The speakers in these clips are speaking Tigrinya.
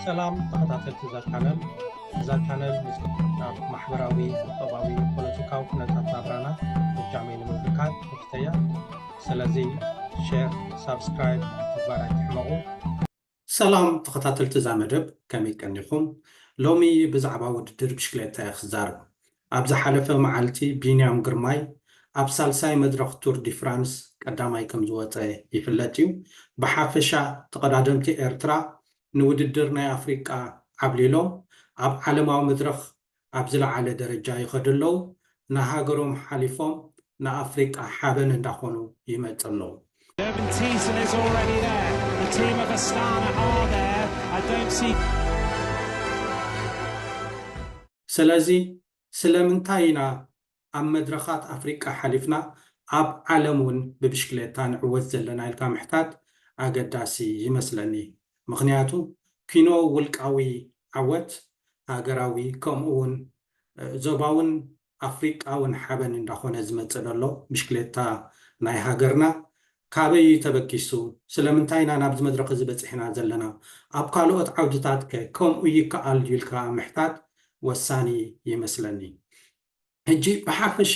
ሰላም ተኸታተልቲ እዛ ቻነል እዛ ቻነል ምስ ናብ ማሕበራዊ ቁጠባዊ ፖለቲካዊ ኩነታት ናብራና እጃመይ ንምብርካት ተፍተያ ስለዚ ሼር ሳብስክራይብ ምግባር ኣይትሕመቑ ሰላም ተኸታተልቲ እዛ መደብ ከመይ ቀኒኹም ሎሚ ብዛዕባ ውድድር ብሽክሌታ እየ ክዛረብ ኣብ ዝሓለፈ መዓልቲ ቢንያም ግርማይ ኣብ ሳልሳይ መድረኽ ቱር ዲ ፍራንስ ቀዳማይ ከምዝወጸ ይፍለጥ'ዩ። ብሓፈሻ ተቐዳደምቲ ኤርትራ ንውድድር ናይ ኣፍሪቃ ዓብሊሎም ኣብ ዓለማዊ መድረኽ ኣብ ዝለዓለ ደረጃ ይኸዱ ኣለዉ። ንሃገሮም ሓሊፎም ንኣፍሪቃ ሓበን እንዳኾኑ ይመጽ ኣለዉ። Durban Teason is already there. The team of Astana are there. I don't see. ስለዚ ስለምንታይ ኢና ኣብ መድረኻት ኣፍሪቃ ሓሊፍና ኣብ ዓለም ውን ብብሽክሌታ ንዕወት ዘለና ኢልካ ምሕታት ኣገዳሲ ይመስለኒ። ምኽንያቱ ኪኖ ውልቃዊ ዓወት፣ ሃገራዊ ከምኡ ውን ዞባውን ኣፍሪቃውን ሓበን እንዳኾነ ዝመጽእ ደሎ ብሽክሌታ ናይ ሃገርና ካበይ እዩ ተበጊሱ? ስለምንታይ ኢና ናብዚ መድረኽ እዚ በጺሕና ዘለና? ኣብ ካልኦት ዓውድታትከ ከምኡ ይከኣል ድዩ ኢልካ ምሕታት ወሳኒ ይመስለኒ። ሕጂ ብሓፈሻ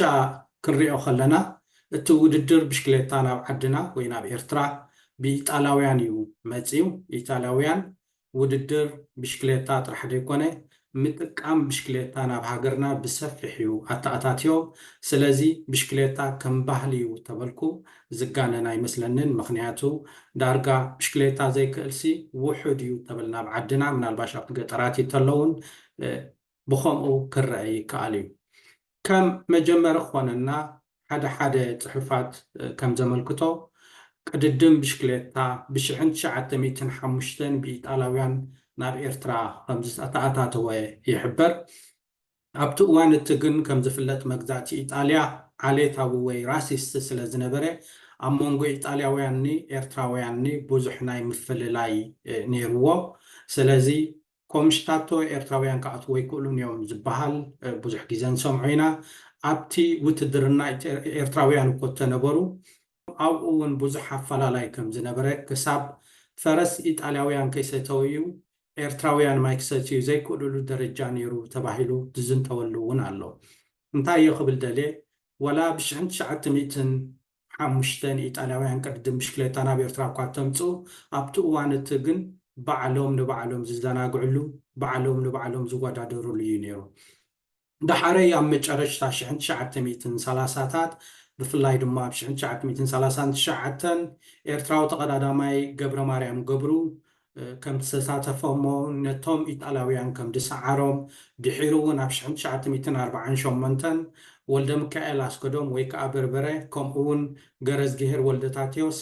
ክንሪኦ ከለና እቲ ውድድር ብሽክሌታ ናብ ዓድና ወይ ናብ ኤርትራ ብኢጣልያውያን እዩ መጺኡ። ኢጣልያውያን ውድድር ብሽክሌታ ጥራሕ ዘይኮነ ምጥቃም ብሽክሌታ ናብ ሃገርና ብሰፊሕ ዩ ኣተኣታትዮ ስለዚ ብሽክሌታ ከም ባህሊ ዩ ተበልኩ ዝጋነን ኣይመስለንን ምኽንያቱ ዳርጋ ብሽክሌታ ዘይክእልሲ ውሑድ ዩ ተብል ናብ ዓድና ምናልባሽ ኣብቲ ገጠራት ይተለውን ብኸምኡ ክረኣ ይከኣል እዩ። ከም መጀመሪ ክኾነና ሓደ ሓደ ጽሑፋት ከም ዘመልክቶ ቅድድም ብሽክሌታ ብሽሕን ትሽዓተ ሚእትን ሓሙሽተን ብኢጣላውያን ናብ ኤርትራ ከም ዝተኣታተወ ይሕበር። ኣብቲ እዋን እቲ ግን ከም ዝፍለጥ መግዛእቲ ኢጣልያ ዓሌታዊ ወይ ራሲስት ስለ ዝነበረ ኣብ መንጎ ኢጣልያውያንኒ ኤርትራውያንኒ ብዙሕ ናይ ምፍልላይ ነይርዎ። ስለዚ ኮምሽታቶ ኤርትራውያን ክኣትዉ ኣይክእሉን እዮም ዝብሃል ብዙሕ ግዜ ንሰምዖ ኢና። ኣብቲ ውትድርና ኤርትራውያን እኮ እተነበሩ። ኣብኡ እውን ብዙሕ ኣፈላላይ ከም ዝነበረ ክሳብ ፈረስ ኢጣልያውያን ከይሰተወ እዩ ኤርትራውያን ማይ ክሰትዩ ዘይክእልሉ ደረጃ ነይሩ ተባሂሉ ዝዝንተወሉ እውን ኣሎ። እንታይ እየ ክብል ደልየ ዋላ ብሽሕን ትሽዓተ ሚእትን ሓሙሽተ ንኢጣልያውያን ቅድድም ብሽክሌታ ናብ ኤርትራ እኳ እተምጽኡ፣ ኣብቲ እዋን እቲ ግን ባዕሎም ንባዕሎም ዝዘናግዕሉ፣ ባዕሎም ንባዕሎም ዝወዳደርሉ እዩ ነይሩ። ደሓረይ ኣብ መጨረሽታ ሽሕን ትሽዓተ ሚእትን ሰላሳታት፣ ብፍላይ ድማ ኣብ ሽሕን ትሽዓተ ሚእትን ሰላሳን ትሽዓተን፣ ኤርትራዊ ተቐዳዳማይ ገብረማርያም ገብሩ፣ ከም ዝተሳተፈ'ሞ ነቶም ኢጣልያውያን ከም ዝሰዓሮም፣ ድሒሩ እውን ኣብ ሽሕን ትሽዓተ ሚእትን ኣርብዓን ሸሞንተን ወልደምካኤል ኣስገዶም ወይ ከኣ በርበረ ከምኡ እውን ገረዝግሄር ወልደታቴዎስ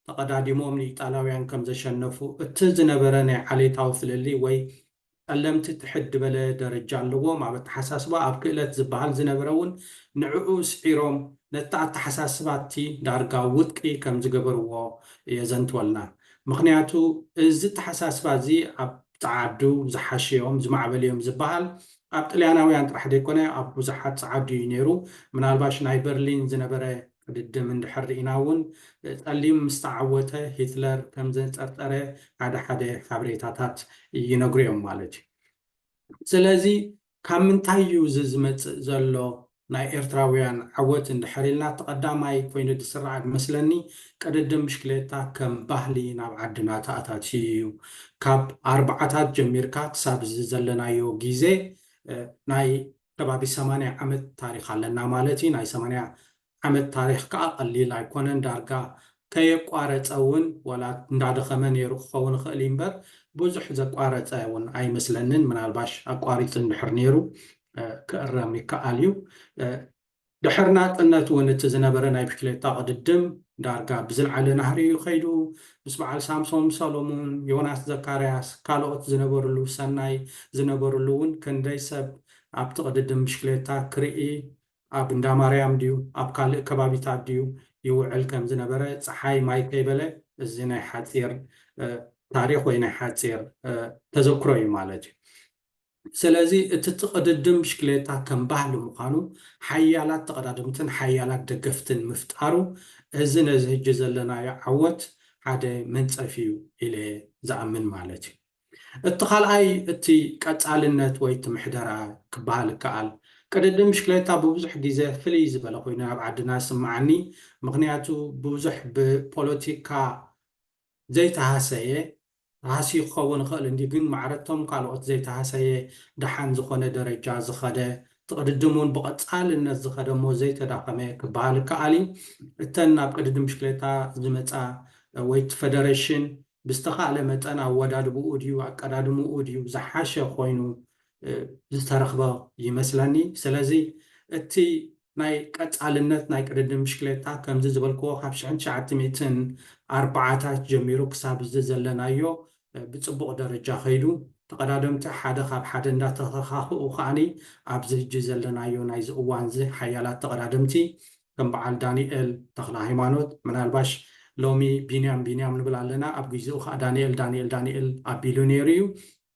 ተቐዳዲሞም ንኢጣልያውያን ከም ዘሸነፉ እቲ ዝነበረ ናይ ዓሌታዊ ፍልልይ ወይ ጸለምቲ ትሕት ድበለ ደረጃ ኣለዎም ኣብ ኣተሓሳስባ ኣብ ክእለት ዝብሃል ዝነበረ ውን ንዕዑ ስዒሮም ነቲ ኣተሓሳስባቲ ዳርጋ ውድቂ ከም ዝገበርዎ የዘንትወልና ምኽንያቱ እዚ ኣተሓሳስባ እዚ ኣብ ጸዓዱ ዝሓሸ ዮም ዝማዕበለ ዮም ዝብሃል ኣብ ጥልያናውያን ጥራሕ ዘይኮነ ኣብ ብዙሓት ጸዓዱ ዩ ኔሩ ምናልባሽ ናይ በርሊን ዝነበረ ቅድድም እንድሕር ርኢና እውን ጸሊም ምስ ተዓወተ ሂትለር ከም ዘንጸርጸረ ሓደ ሓደ ሓበሬታታት ይነግሩ እዮም ማለት እዩ። ስለዚ ካብ ምንታይ እዩ እዚ ዝመጽእ ዘሎ ናይ ኤርትራውያን ዓወት እንድሕር ኢልና እቲ ቀዳማይ ኮይኑ ዝስራዕ ዝመስለኒ ቅድድም ብሽክሌታ ከም ባህሊ ናብ ዓድና ተኣታትዩ እዩ። ካብ ኣርብዓታት ጀሚርካ ክሳብ እዚ ዘለናዮ ግዜ ናይ ከባቢ ሰማንያ ዓመት ታሪኽ ኣለና ማለት እዩ። ናይ ሰማንያ ዓመት ታሪኽ ከኣ ቀሊል ኣይኮነን። ዳርጋ ከየቋረጸ እውን ዋላ እንዳደኸመ ነይሩ ክኸውን ይኽእል እዩ እምበር ብዙሕ ዘቋረጸ እውን ኣይመስለንን። ምናልባሽ ኣቋሪጹ እንድሕር ነይሩ ክእረም ይከኣል እዩ። ድሕሪ ናጽነት እውን እቲ ዝነበረ ናይ ብሽክሌታ ቅድድም ዳርጋ ብዝልዓለ ናህሪ እዩ ከይዱ። ምስ በዓል ሳምሶም ሰሎሙን፣ ዮናስ ዘካርያስ፣ ካልኦት ዝነበርሉ ሰናይ ዝነበርሉ እውን ክንደይ ሰብ ኣብቲ ቅድድም ብሽክሌታ ክርኢ ኣብ እንዳማርያም ድዩ ኣብ ካልእ ከባቢታት ድዩ ይውዕል ከም ዝነበረ ጸሓይ ማይ ከይበለ እዚ ናይ ሓጺር ታሪኽ ወይ ናይ ሓጺር ተዘክሮ እዩ ማለት እዩ። ስለዚ እቲ ትቕድድም ብሽክሌታ ከም ባህሊ ምዃኑ ሓያላት ተቐዳደምትን ሓያላት ደገፍትን ምፍጣሩ እዚ ነዚ ህጂ ዘለናዮ ዓወት ሓደ መንጸፍ ኢዩ ኢለ ዝኣምን ማለት ኢዩ። እቲ ካልኣይ እቲ ቀጻልነት ወይ እቲ ምሕደራ ክበሃል ይከኣል። ቅድድም ብሽክሌታ ብብዙሕ ግዜ ፍልይ ዝበለ ኮይኑ ኣብ ዓድና ይስመዓኒ ምኽንያቱ ብብዙሕ ብፖለቲካ ዘይተሃሰየ ሃስዩ ክኸውን ይኽእል እንድዩ ግን ማዕረ'ቶም ካልኦት ዘይተሃሰየ ደሓን ዝኾነ ደረጃ ዝኸደ ትቕድድም ውን ብቐጻልነት ዝኸደ እሞ ዘይተዳኸመ ክበሃል ይከኣል እዩ። እተን ናብ ቅድድም ብሽክሌታ ዝመጻ ወይ እቲ ፈደረሽን ብዝተኻእለ መጠን ኣወዳድብኡ ድዩ ኣቀዳድምኡ ድዩ ዝሓሸ ኮይኑ ዝተረኽበ ይመስለኒ። ስለዚ እቲ ናይ ቀጻልነት ናይ ቅድድም ብሽክሌታ ከምዚ ዝበልክዎ ካብ ሽሕን ትሽዓተ ሚእትን ኣርባዓታት ጀሚሩ ክሳብ እዚ ዘለናዮ ብጽቡቕ ደረጃ ከይዱ። ተቐዳደምቲ ሓደ ካብ ሓደ እንዳተተኻኽኡ ከኣ ኣብዚ ህጂ ዘለናዮ ናይዚ እዋንዚ ሓያላት ተቐዳደምቲ ከም በዓል ዳኒኤል ተኽለሃይማኖት ምናልባሽ ሎሚ ቢንያም ቢንያም ንብል ኣለና ኣብ ጊዚኡ ከኣ ዳኒኤል ዳኒኤል ዳኒኤል ኣቢሉ ነይሩ እዩ።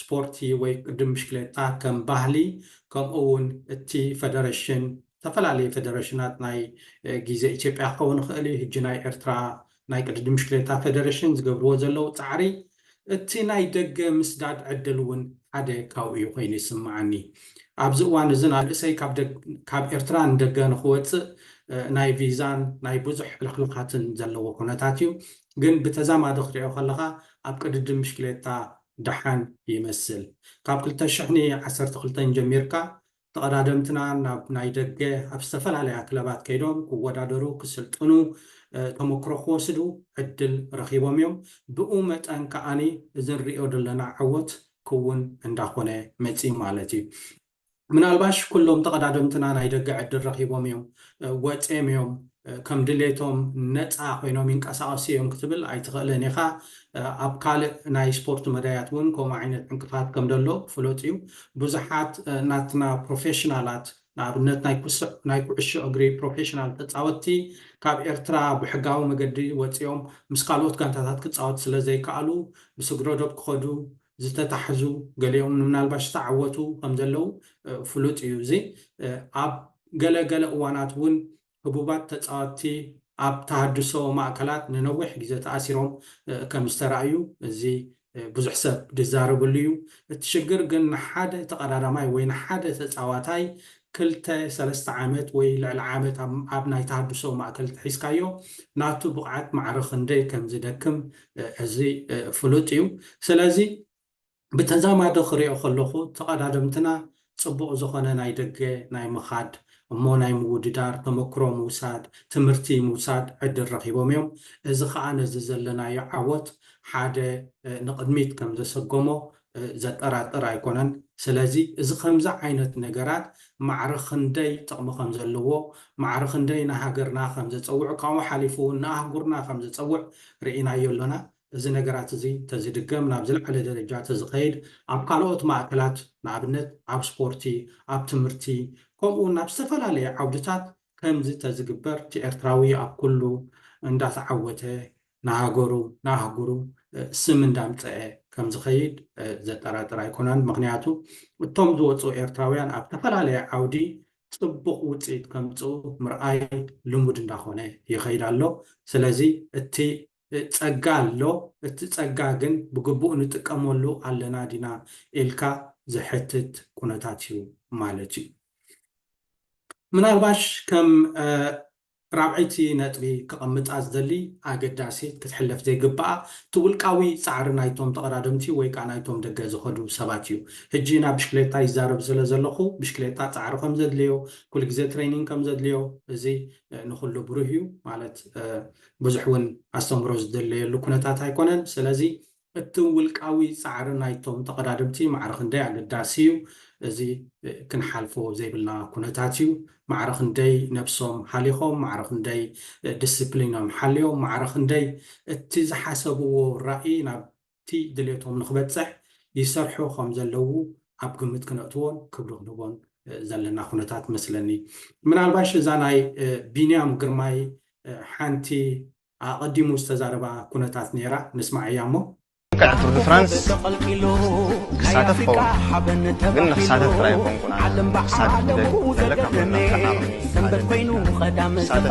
ስፖርቲ ወይ ቅድድም ብሽክሌታ ከም ባህሊ ከምኡ እውን እቲ ፈደረሽን ዝተፈላለዩ ፈደረሽናት ናይ ግዜ ኢትዮጵያ ክኸውን ይኽእል እዩ ሕጂ ናይ ኤርትራ ናይ ቅድድም ብሽክሌታ ፈደረሽን ዝገብርዎ ዘለዉ ጻዕሪ እቲ ናይ ደገ ምስዳድ ዕድል እውን ሓደ ካብኡ እዩ ኮይኑ ይስምዓኒ ኣብዚ እዋን እዚ ናርእሰይ ካብ ኤርትራ ንደገ ንክወጽእ ናይ ቪዛን ናይ ብዙሕ ሕልኽልኻትን ዘለዎ ኩነታት እዩ ግን ብተዛማዲ ክትሪኦ ከለኻ ኣብ ቅድድም ብሽክሌታ ደሓን ይመስል ካብ ክልተ ሽሕኒ ዓሰርተ ክልተን ጀሚርካ ተቐዳደምትና ናብ ናይ ደገ ኣብ ዝተፈላለያ ክለባት ከይዶም ክወዳደሩ ክስልጥኑ ተመክሮ ክወስዱ ዕድል ረኺቦም እዮም ብኡ መጠን ከኣ እዚ ንርእዮ ዘለና ዓወት ክውን እንዳኾነ መጺኡ ማለት እዩ። ምናልባሽ ኩሎም ተቐዳደምትና ናይ ደገ ዕድል ረኺቦም እዮም፣ ወጺኦም እዮም፣ ከም ድሌቶም ነጻ ኮይኖም ይንቀሳቐሱ እዮም ክትብል ኣይትኽእልን ኢኻ። ኣብ ካልእ ናይ ስፖርት መዳያት እውን ከምኡ ዓይነት ዕንቅፋት ከም ዘሎ ፍሉጥ እዩ። ብዙሓት ናትና ፕሮፌሽናላት፣ ንኣብነት ናይ ኩስዕ ናይ ኩዕሾ እግሪ ፕሮፌሽናል ተጻወትቲ፣ ካብ ኤርትራ ብሕጋዊ መገዲ ወጺኦም ምስ ካልኦት ጋንታታት ክጻወት ስለ ዘይከኣሉ ብስግረዶብ ክኸዱ ዝተታሕዙ ገሊኦም ምናልባሽ ዝተዓወቱ ከምዘለዉ ፍሉጥ እዩ እዚ ኣብ ገለ ገለ እዋናት እውን ህቡባት ተጻወትቲ ኣብ ተሃድሶ ማእከላት ንነዊሕ ግዜ ተኣሲሮም ከም ዝተራእዩ እዚ ብዙሕ ሰብ ዝዛረበሉ እዩ እቲ ሽግር ግን ንሓደ ተቐዳዳማይ ወይ ንሓደ ተጻዋታይ ክልተ ሰለስተ ዓመት ወይ ልዕሊ ዓመት ኣብ ናይ ተሃድሶ ማእከል እንተሒዝካዮ ናቱ ብቕዓት ማዕረ ክንደይ ከም ዝደክም እዚ ፍሉጥ እዩ። ስለዚ ብተዛማዲ ክሪኦ ከለኹ ተቐዳደምትና ጽቡቕ ዝኾነ ናይ ደገ ናይ ምኻድ እሞ ናይ ምውድዳር፣ ተመክሮ ምውሳድ፣ ትምህርቲ ምውሳድ ዕድል ረኺቦም እዮም። እዚ ከኣ ነዚ ዘለናዮ ዓወት ሓደ ንቕድሚት ከም ዘሰጎሞ ዘጠራጥር ኣይኮነን። ስለዚ እዚ ከምዚ ዓይነት ነገራት ማዕረ ክንደይ ጥቕሚ ከም ዘለዎ፣ ማዕረ ክንደይ ንሃገርና ከም ዘጸውዕ፣ ካብኡ ሓሊፉ እውን ንኣህጉርና ከም ዘጸውዕ ርኢናዮ ኣሎና። እዚ ነገራት እዚ ተዝድገም፣ ናብ ዝለዓለ ደረጃ ተዝኸይድ፣ ኣብ ካልኦት ማእከላት ንኣብነት ኣብ ስፖርቲ፣ ኣብ ትምህርቲ፣ ከምኡ እውን ኣብ ዝተፈላለየ ዓውድታት ከምዚ ተዝግበር እቲ ኤርትራዊ ኣብ ኩሉ እንዳተዓወተ ንሃገሩ ንኣህጉሩ ስም እንዳምጸኤ ከምዝኸይድ ዘጠራጥር ኣይኮናን ምኽንያቱ እቶም ዝወጹ ኤርትራውያን ኣብ ተፈላለየ ዓውዲ ጽቡቕ ውጽኢት ከምጽኡ ምርኣይ ልሙድ እንዳኾነ ይኸይድ ኣሎ ስለዚ እቲ ጸጋ ኣሎ እቲ ጸጋ ግን ብግቡእ ንጥቀመሉ ኣለና ዲና ኢልካ ዘሕትት ኩነታት እዩ ማለት እዩ ምናልባሽ ከም ራብዐይቲ ነጥቢ ክቐምጣ ዝደሊ ኣገዳሲት ክትሕለፍ ዘይግባኣ እቲ ውልቃዊ ጻዕሪ ናይቶም ተቐዳደምቲ ወይ ከኣ ናይቶም ደገ ዝኸዱ ሰባት እዩ። ሕጂ ናብ ብሽክሌታ ይዛረብ ስለ ዘለኹ ብሽክሌታ ጻዕሪ ከም ዘድልዮ ኩሉ ግዜ ትሬኒንግ ከም ዘድልዮ እዚ ንኹሉ ብሩህ እዩ ማለት ብዙሕ እውን ኣስተምህሮ ዝድለየሉ ኩነታት ኣይኮነን ስለዚ እቲ ውልቃዊ ጻዕሪ ናይቶም ተቐዳደምቲ ማዕረ ክንደይ ኣገዳሲ እዩ፣ እዚ ክንሓልፎ ዘይብልና ኩነታት እዩ። ማዕረ ክንደይ ነብሶም ሃሊኾም፣ ማዕረ ክንደይ ድስፕሊኖም ሓልዮም፣ ማዕረ ክንደይ እቲ ዝሓሰብዎ ራኢ ናብቲ ድሌቶም ንኽበጽሕ ይሰርሑ ከም ዘለዉ ኣብ ግምት ክነእትዎን ክብሪ ክንህቦን ዘለና ኩነታት መስለኒ። ምናልባሽ እዛ ናይ ቢንያም ግርማይ ሓንቲ ኣቐዲሙ ዝተዛረባ ኩነታት ነይራ ንስማዓያ እሞ። ልክዕ ቱር ድ ፍራንስ ክሳተፍ ይኸውን ግን ንክሳተፍ ጥራይ ኣይኮንኩን ኣነ ክሳተፍ ዝደሊ ዘለካ መድረኽ ክሳተፍ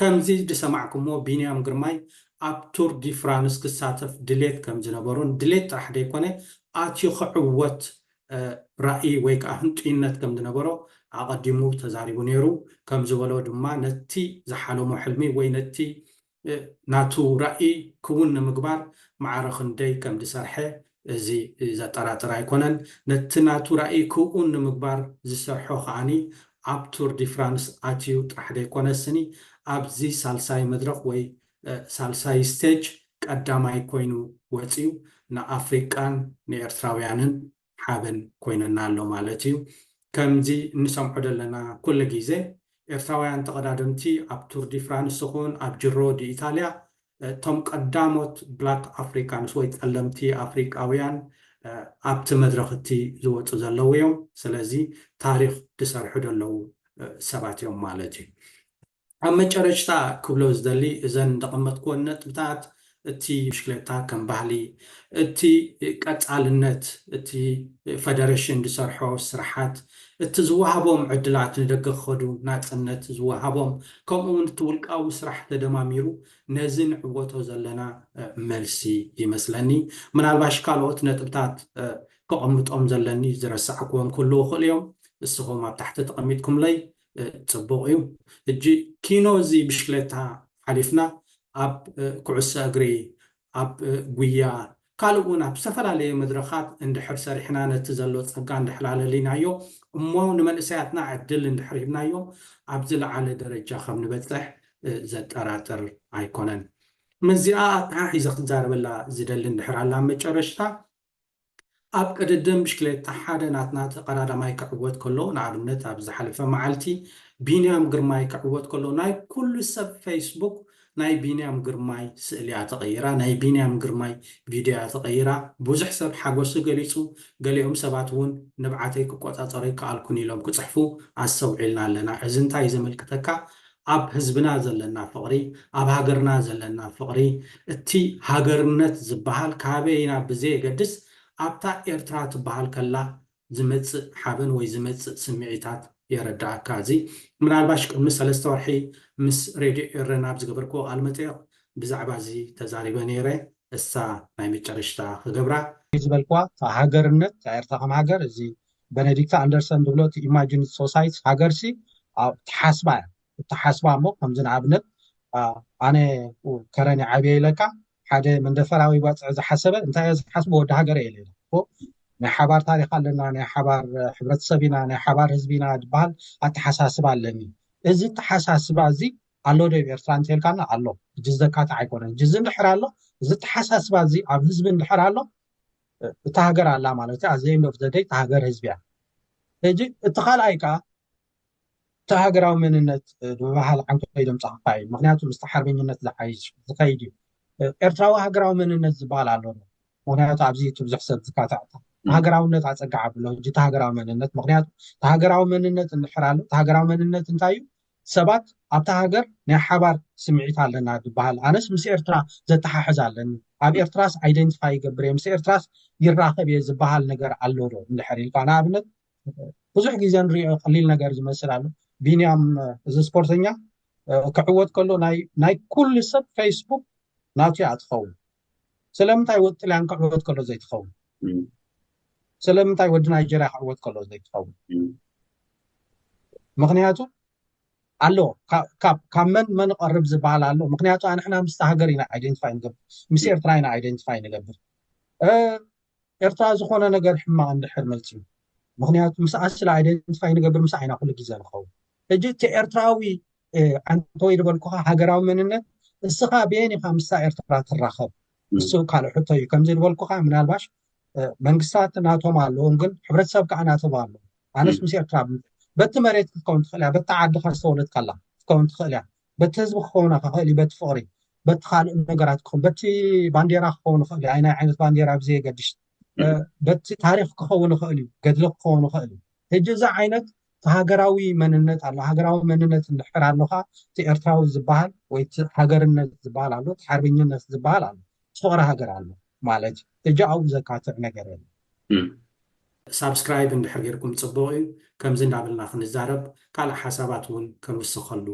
ከምዚ ዝሰማዕኩምዎ ቢንያም ግርማይ ኣብ ቱር ዲ ፍራንስ ክሳተፍ ድሌት ከም ዝነበሮን ድሌት ጥራሕ ዘይኮነ ኣትዩ ክዕወት ራኢ ወይ ከዓ ህንጡይነት ከም ዝነበሮ ኣቐዲሙ ተዛሪቡ ነይሩ። ከም ዝበሎ ድማ ነቲ ዝሓለሞ ሕልሚ ወይ ነቲ ናቱ ራኢ ክውን ንምግባር ማዕረ ክንደይ ከም ዝሰርሐ እዚ ዘጠራጥር ኣይኮነን። ነቲ ናቱ ራኢ ክውን ንምግባር ዝሰርሖ ከኣ ኣብ ቱር ዲ ፍራንስ ኣትዩ ጥራሕ ዘይኮነ ስኒ ኣብዚ ሳልሳይ መድረኽ ወይ ሳልሳይ ስቴጅ ቀዳማይ ኮይኑ ወጽዩ ንኣፍሪቃን ንኤርትራውያንን ሓበን ኮይኑና ኣሎ ማለት እዩ። ከምዚ እንሰምዖ ዘለና ኩሉ ግዜ ኤርትራውያን ተቐዳደምቲ ኣብ ቱር ዲ ፍራንስ ይኹን ኣብ ጅሮ ዲ ኢታልያ እቶም ቀዳሞት ብላክ ኣፍሪካንስ ወይ ፀለምቲ ኣፍሪካውያን ኣብቲ መድረኽ እቲ ዝወፁ ዘለዉ እዮም። ስለዚ ታሪኽ ዝሰርሑ ዘለዉ ሰባት እዮም ማለት እዩ። ኣብ መጨረሽታ ክብሎ ዝደሊ እዘን ዘቐመጥክወን ነጥብታት እቲ ብሽክሌታ ከም ባህሊ እቲ ቀፃልነት እቲ ፈደረሽን ዝሰርሖ ስራሓት እቲ ዝወሃቦም ዕድላት ንደገ ክኸዱ ናጽነት ዝወሃቦም ከምኡ ውን እቲ ውልቃዊ ስራሕ ተደማሚሩ ነዚ ንዕወቶ ዘለና መልሲ ይመስለኒ። ምናልባሽ ካልኦት ነጥብታት ከቐምጦም ዘለኒ ዝረሳዕኩዎም ክህልዉ ይኽእሉ እዮም እስኹም ኣብ ታሕቲ ተቐሚጥኩምለይ ጽቡቕ እዩ። ሕጂ ኪኖ እዚ ብሽክለታ ሓሊፍና ኣብ ኩዕሶ እግሪ ኣብ ጉያ ካልእ ውን ኣብ ዝተፈላለዩ መድረኻት እንድሕር ሰሪሕና ነቲ ዘሎ ጸጋ እንድሕር ኣለሊናዮ እሞ ንመንእሰያትና ዕድል እንድሕር ሂብናዮም ኣብ ዝለዓለ ደረጃ ከም ንበጽሕ ዘጠራጥር ኣይኮነን። ምስዚኣ ኣተሓሒዘ ክዛረበላ ዝደሊ እንድሕር ኣላ ኣብ መጨረሽታ ኣብ ቅድድም ብሽክሌታ ሓደ ናትና ተቐዳዳማይ ክዕወት ከሎ፣ ንኣብነት ኣብ ዝሓለፈ መዓልቲ ቢንያም ግርማይ ክዕወት ከሎ ናይ ኩሉ ሰብ ፈይስቡክ ናይ ቢንያም ግርማይ ስእሊ እያ ተቐይራ፣ ናይ ቢንያም ግርማይ ቪድዮ እያ ተቐይራ። ብዙሕ ሰብ ሓጎሱ ገሊጹ፣ ገሊኦም ሰባት እውን ንብዓተይ ክቆጻጸሮ ኣይከኣልኩን ኢሎም ክጽሕፉ ኣስተውዒልና ኣለና። እዚ እንታይ እዩ ዘመልክተካ? ኣብ ህዝብና ዘለና ፍቕሪ፣ ኣብ ሃገርና ዘለና ፍቕሪ፣ እቲ ሃገርነት ዝበሃል ካበይ ኢና ብዘየገድስ ኣብታ ኤርትራ ትበሃል ከላ ዝመጽእ ሓበን ወይ ዝመጽእ ስምዒታት የረደኣካ። እዚ ምናልባሽ ቅድሚ ሰለስተ ወርሒ ምስ ሬድዮ ኤረና ኣብ ዝገበርክዎ ቃልመጠየቕ ብዛዕባ እዚ ተዛሪበ ነይረ፣ እሳ ናይ መጨረሽታ ክገብራ። እዚ ዝበልክዋ ሃገርነት፣ እታ ኤርትራ ከም ሃገር፣ እዚ በነዲክት ኣንደርሰን ዝብሎ እቲ ኢማጂንድ ሶሳይት ሃገርሲ ኣብ ተሓስባ እያ እተሓስባ እሞ ከምዚ ንኣብነት ኣነ ከረን ዓብየ ኢለካ ሓደ መንደፈራዊ ባፅዕ ዝሓሰበ እንታይ እየ ዝሓስቡ ወዲ ሃገረ የለ ናይ ሓባር ታሪክ ኣለና ናይ ሓባር ሕብረተሰብ ኢና ናይ ሓባር ህዝቢ ኢና ዝበሃል ኣተሓሳስባ ኣለኒ እዚ ተሓሳስባ እዚ ኣሎ ዶ ኤርትራ እንተልካና ኣሎ እጅ ዘካትዕ ኣይኮነን እጅ እዚ እንድሕር ኣሎ እዚ ተሓሳስባ እዚ ኣብ ህዝቢ እንድሕር ኣሎ እታ ሃገር ኣላ ማለት እዩ ኣዘይ ዶፍ ዘደይ እታ ሃገር ህዝቢ እያ ሕጂ እቲ ካልኣይ ከዓ እቲ ሃገራዊ መንነት ብባህል ዓንቶ ኢሎም ፀኽፋ እዩ ምክንያቱ ምስ ሓርበኝነት ዝሓይሽ ዝኸይድ እዩ ኤርትራዊ ሃገራዊ መንነት ዝበሃል ኣሎ ምክንያቱ ኣብዚ ብዙሕ ሰብ ዝካታዕታ ሃገራውነት ኣፀጋዕ ኣብሎ ሕጂ እቲ ሃገራዊ መንነት ምክንያቱ እቲ ሃገራዊ መንነት እንድሕር ኣሎ እቲ ሃገራዊ መንነት እንታይ እዩ ሰባት ኣብታ ሃገር ናይ ሓባር ስምዒት ኣለና ድበሃል ኣነስ ምስ ኤርትራ ዘተሓሕዝ ኣለኒ ኣብ ኤርትራስ ኣይደንትፋይ ይገብር እየ ምስ ኤርትራስ ይራኸብ እየ ዝበሃል ነገር ኣሎ ዶ እንድሕር ኢልካ ንኣብነት ብዙሕ ግዜ ንሪኦ ቀሊል ነገር ዝመስል ኣሎ ቢንያም እዚ ስፖርተኛ ክዕወት ከሎ ናይ ኩሉ ሰብ ፌስቡክ ናቱ እያ ትኸውን ስለምንታይ ወዲ ጥልያን ክዕወት ከሎ ዘይትኸውን ስለምንታይ ወዲ ናይጀርያ ክዕወት ከሎ ዘይትኸውን ምክንያቱ ኣሎ ካብ መን መን ቐርብ ዝበሃል ኣሎ ምክንያቱ ኣንሕና ምስቲ ሃገር ኢና ኣይደንቲፋይ ንገብር ምስ ኤርትራ ኢና ኣይደንቲፋይ ንገብር ኤርትራ ዝኾነ ነገር ሕማቕ እንድሕር መፅዩ ምክንያቱ ምስ ኣስላ ኣይደንቲፋይ ንገብር ምስ ዓይና ኩሉ ግዜ ንኸውን ሕጂ እቲ ኤርትራዊ ዓንተወይ ዝበልኩኻ ሃገራዊ መንነት እስኻ ብየን ኢኻ ምስታ ኤርትራ ትራኸብ እሱ ካልእ ሕቶ እዩ ከምዚ ዝበልኩኻ ምናልባሽ መንግስታት ናቶም ኣለዎም ግን ሕብረተሰብ ከዓ ናተብ ኣሎ ኣነስ ምስ ኤርትራ በቲ መሬት ክትከውን ትኽእል እያ በቲ ዓድኻ ዝተወለድካ ኣላ ክትከውን ትኽእል እያ በቲ ህዝቢ ክኸውን ክኽእል እዩ በቲ ፍቕሪ በቲ ካልእ ነገራት ክኸውን በቲ ባንዴራ ክኸውን ይኽእል እዩ ኣይናይ ዓይነት ባንዴራ ብዘየገድሽ በቲ ታሪክ ክኸውን ይኽእል እዩ ገድሊ ክኸውን ይኽእል እዩ ሕጂ እዚ ዓይነት እቲ ሃገራዊ መንነት ኣሎ ሃገራዊ መንነት እንድሕር ኣሎካ እቲ ኤርትራዊ ዝበሃል ወይ እቲ ሃገርነት ዝበሃል ኣሎ እቲ ሓርበኝነት ዝበሃል ኣሎ እቲ ፍቅሪ ሃገር ኣሎ ማለት እዩ ሕጂ ኣብኡ ዘካትዕ ነገር የለን። ሳብስክራይብ እንድሕር ጌርኩም ጽቡቅ እዩ ከምዚ እንዳበልና ክንዛረብ ካልእ ሓሳባት ውን ክንውስኸሉ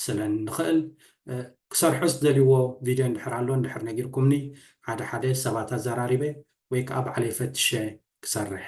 ስለ ንኽእል ክሰርሖ ዝደልዎ ቪድዮ እንድሕር ኣሎ እንድሕር ነጊርኩምኒ ሓደ ሓደ ሰባት ኣዛራሪበ ወይ ከኣ ባዕለይ ፈትሸ ክሰርሕ